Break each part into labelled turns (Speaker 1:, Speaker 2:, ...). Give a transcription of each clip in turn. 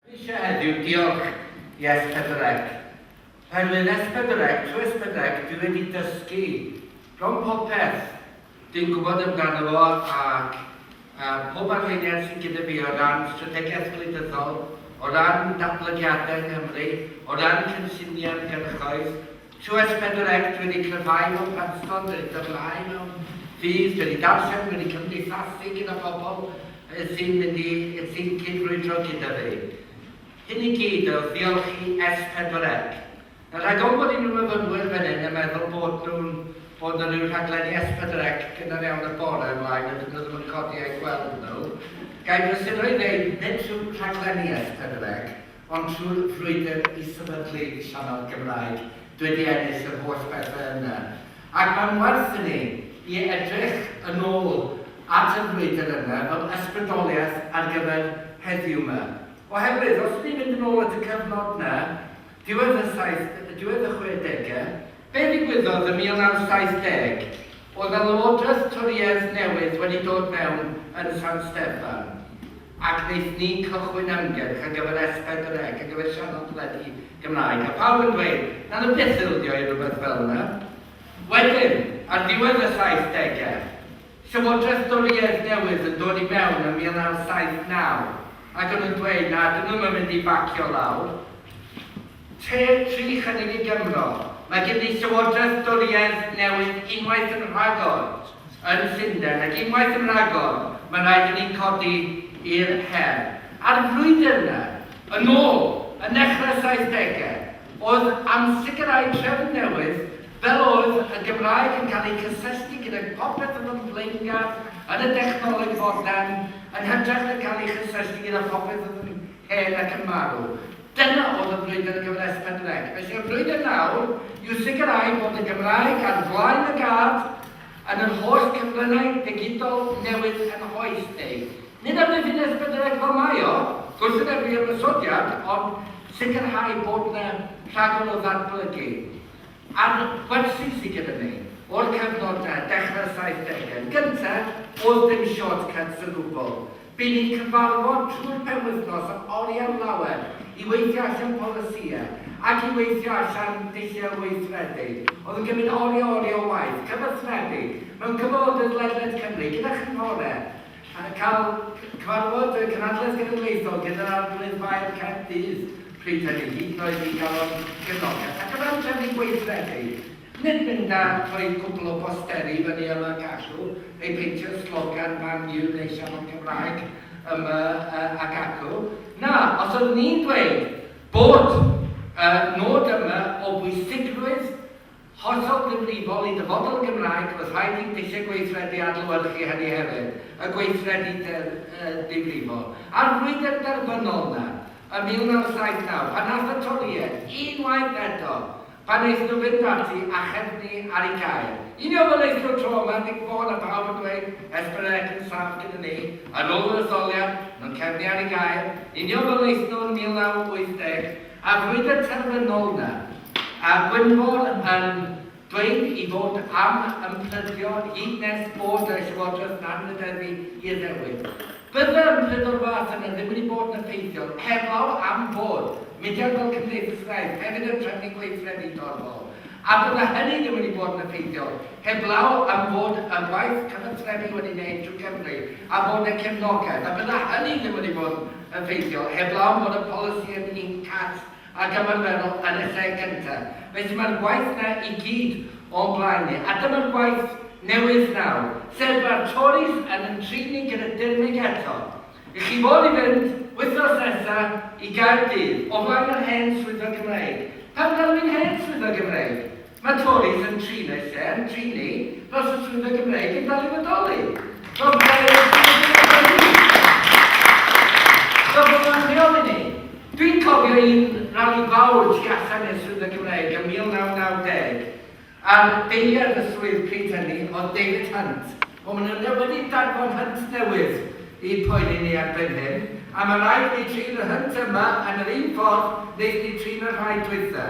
Speaker 1: Dwi eisiau heddiw diolch i Espedrec, oherwydd Espedrec, trwy Espedrec dwi wedi dysgu bron popeth dwi'n gwybod amdano fo ac pob arweiniad sydd gyda fi o ran strategaeth gwleidyddol, o ran datblygiadau yng Nghymru, o ran cynlluniau ymgyrchoedd, Tues pedwar ect wedi cryfhau mewn pysgod wedi dyrlhau mewn ffydd wedi darllen wedi cymdeithasu gyda phobl y sy'n mynd i y sy'n cyd-frwydro gyda fi. Hyn i gyd ewch ddiolch i es pedwar ec. Yn rhagol bod un o myfynwyr fan hyn yn meddwl bod nhw'n bod na ryw rhaglenni es pedwar ec gynnar iawn y bore ymlaen a dydyn nhw ddim yn codi a'u gweld nhw. Gai brysuro i ddeud nid rhyw rhaglenni es pedwar ec Ond trwy'r frwydr i sefydlu sianel Gymraeg, dw wedi ennill yr holl bethe yna. Ac mae'n werth i ni i edrych yn ôl at y frwydr yna fel ysbrydoliaeth ar gyfer heddiw 'ma. Oherwydd, os ni'n mynd yn ôl at y cyfnod 'na, diwedd y saith, diwedd y chwedege, be ddigwyddodd yn 1970? Oedd 'na lywodraeth Torïaidd newydd wedi dod mewn yn San Steffan. Ac wnaethon ni cychwyn ymgyrch ar gyfer S40C, ar gyfer sianel teledu Gymraeg, a pawb yn dweud, 'na ddim beth ildio i rywbeth fel 'na. Wedyn, ar ddiwedd y saithdegau, Llywodraeth Dorïaidd newydd yn dod i mewn yn 1979, ac o'n nhw'n dweud, 'na, 'dyn nhw ddim yn mynd i bacio lawr. Tua tri chydig i Gymro, mae gen i llywodraeth dwriaeth newydd unwaith yn rhagor yn Llundain ac unwaith yn rhagor mae'n rhaid i ni codi i'r her. A'r frwydr yna, yn ôl yn nechrau'r saithdegau, oedd am sicrhau trefn newydd fel oedd y Gymraeg yn cael ei cysylltu gyda phopeth oedd yn flaengar yn y dechnoleg fodern yn hytrach na cael ei chysylltu gyda phopeth oedd yn hen ac yn marw. Dyna oedd y brwydr gyfres Penreg. Felly y brwydr nawr yw sicrhau bod y Gymraeg ar flaen y gad yn yr holl cyfryngau digidol newydd yn hoes neu, nid am ddifines Penreg fel mae o, gwrthwynebu ymosodiad, ond sicrhau bod na rhagor o ddatblygu ar wersi sy gyda ni o'r cyfnod na, dechrau'r saithdegau yn gyntaf, oes dim shortcuts o gwbl. Bydd ni'n cyfarfod trwy'r penwythnos am oriau'n lawer i weithio allan polisïau ac i weithio allan dulliau weithredu. Oedd yn gymryd oriau oriau o waith, cyfathrebu mewn cyfarfodydd ledled Cymru gyda chynghorau, cael cyfarfod y Cynhadledd Genedlaethol gyda'r Arglwydd Faer Caerdydd pryd hynny, hyd yn oed i gael o'n gefnogaeth, ac o ran trefnu gweithredu, Nid mynd a rhoi cwpl o bosteri fyny yma gallu ei peintio slogan Man U neu siafod Cymraeg yma ac acw. Na, os oeddwn i'n dweud bod y nod yma o bwysigrwydd hollol ddifrifol i ddyfodol y Gymraeg roedd rhaid i dulliau gweithredu adlewyrchu hynny hefyd, y gweithredu difrifol a'r frwydr derfynol yna ym 1979 pan ath y Torïaid unwaith eto Pan eith nhw fynd parti acheb ni ar i gael. Yn iawn fel eith nhw tro ma Dic Fôn a pawb yn dweud Esperec yn saff gyda ni Yn ol yr etholiad nhw'n cefnu ar i gael Yn iawn fel eith nhw yn 1980 A'r frwydyr terfynol na A Gwynfor yn dweud i fod am ymffrydio Hyd nes bod y llywodraeth na'n meddefu i addewid. Byddai'r ymdrech o'r fath yna ddim wedi bod yn effeithiol heblaw am fod mudiad fel Cymdeithasgraidd hefyd yn trefnu gweithredu torfol, a bydda hynny ddim wedi bod yn effeithiol heblaw am fod y gwaith cyfathrebu wedi wneud drwy Gymru a bod yna cefnogaeth, a bydda hynny ddim wedi bod yn effeithiol heblaw am fod y polisi yn un cast Ac ymarferol yn y lle gyntaf. Felly mae'r gwaith 'na i gyd o'n blaen ni. A dyma'r gwaith newydd nawr, sef mae'r Tories yn yn trin ni gyda dirmyg eto. Y'ch chi fod i fynd, wythnos nesa, i Gaerdydd, o flaen yr hen Swyddfa Gymreig. Pam galw hi'n hen Swyddfa Gymreig? Mae Tories yn trin eu lle, yn trin ni, fel sa swyddfa Gymreig yn dal i fodoli. Fel bod e'n ein swyddfa Gymreig ni. Fel bod o'n rheoli ni. Dwi'n cofio un rali fawr tu allan i'r swyddfa Gymreig ym 1990, a'r deiliad y swydd pryd hynny oedd David Hunt. Wel, maen nhw wedi danfon Hunt newydd i poeni ni erbyn hyn, a mae rhaid i ni trin y Hunt yma yn yr un ffordd wnaethon ni trin y rhai dwytha.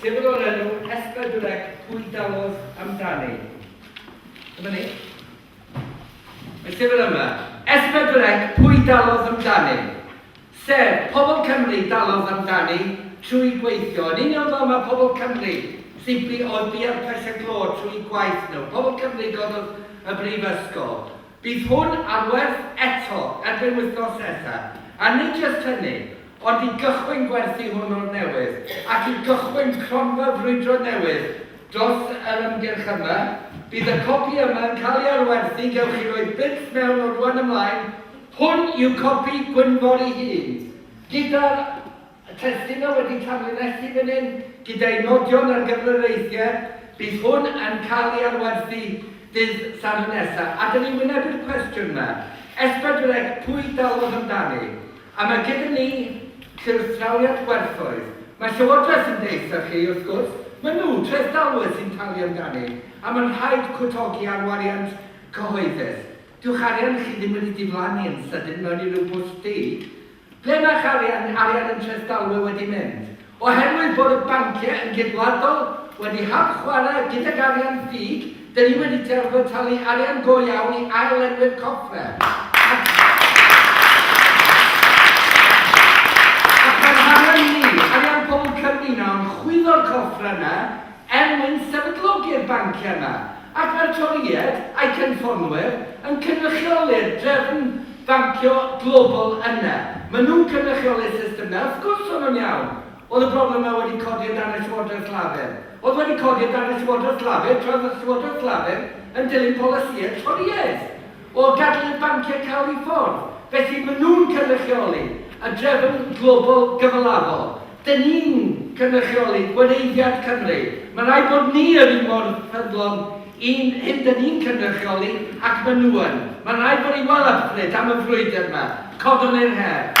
Speaker 1: Llyfr o'r enw Hesper Durek, Pwy Dawodd Amdani? Dyma ni. Y llyfr yma, Esper Durek, Pwy Dawodd Amdani? Sef, pobl Cymru dalodd amdani trwy gweithio. Yn union fel mae pobl Cymru sy'n bu oedd bu ar pressure clo trwy gwaith nhw. Pobl Cymru gododd y brifysgol. Bydd hwn ar werth eto erbyn wythnos nesa, a nid jyst hynny, ond i gychwyn gwerthu hwn o'r newydd, ac i gychwyn cronfa brwydro newydd dros yr ymgyrch yma, bydd y copi yma yn cael ei ailwerthu, gewch chi roi byrth mewn o rwan ymlaen, hwn yw copi Gwynfor ei hun, gyda'r. Y testun a wedi tanlinellu fan hyn, gyda'i nodion ar gyfer yr eithr, bydd hwn yn cael ei adwerthu dydd Sadwrn nesa. A dyn ni'n wynebu'r cwestiwn 'ma, Esbydreg, pwy dalodd amdani? A mae gyda ni llywstrawiad gwerthoedd. Mae Llywodraeth yn deud 'tha chi, wrth gwrs, ma' nhw, trethdalwyr, sy'n talu amdani, a mae'n rhaid cwtogi ar wariant cyhoeddus. Dyw'ch arian chi ddim wedi diflannu yn sydyn mewn i ryw bwll du. Ble mae'ch arian, arian interest dalwe wedi mynd? Oherwydd bod y banciau yn geidwadol wedi hap-chwarae gydag arian ffug, dyn ni wedi derbau talu arian go iawn i ail-lenwi'r coffer, ac mae'r harian ni, arian pobl Cymru nawr, yn chwyddo'r coffer yna, er mwyn sefydlogi'r banciau yma, ac mae'r Torïaid a'i cynffonnwyr yn cynrychioli'r drefn bancio global yna. Maen nhw'n cynrychioli'r system yna. Wrth gwrs o'n nhw'n iawn. Oedd y broblem yma wedi codi o dan y Llywodraeth Lafur? Oedd wedi codi o dan y Llywodraeth Lafur tra oedd y Llywodraeth Lafur yn dilyn polisïau Torïaidd o gadael i'r banciau cau i ffwrdd. Felly, maen nhw'n cynrychioli y drefn global gyfalafol. Dyn ni'n cynrychioli gwleiddiad Cymru. Mae'n rhaid bod ni yr un mor ffyddlon i'n hyn dyn ni'n cynrychioli ac maen nhw yn. Mae'n rhaid bod ni'n well hyfryd am y frwydr yma. Codwn i'r her.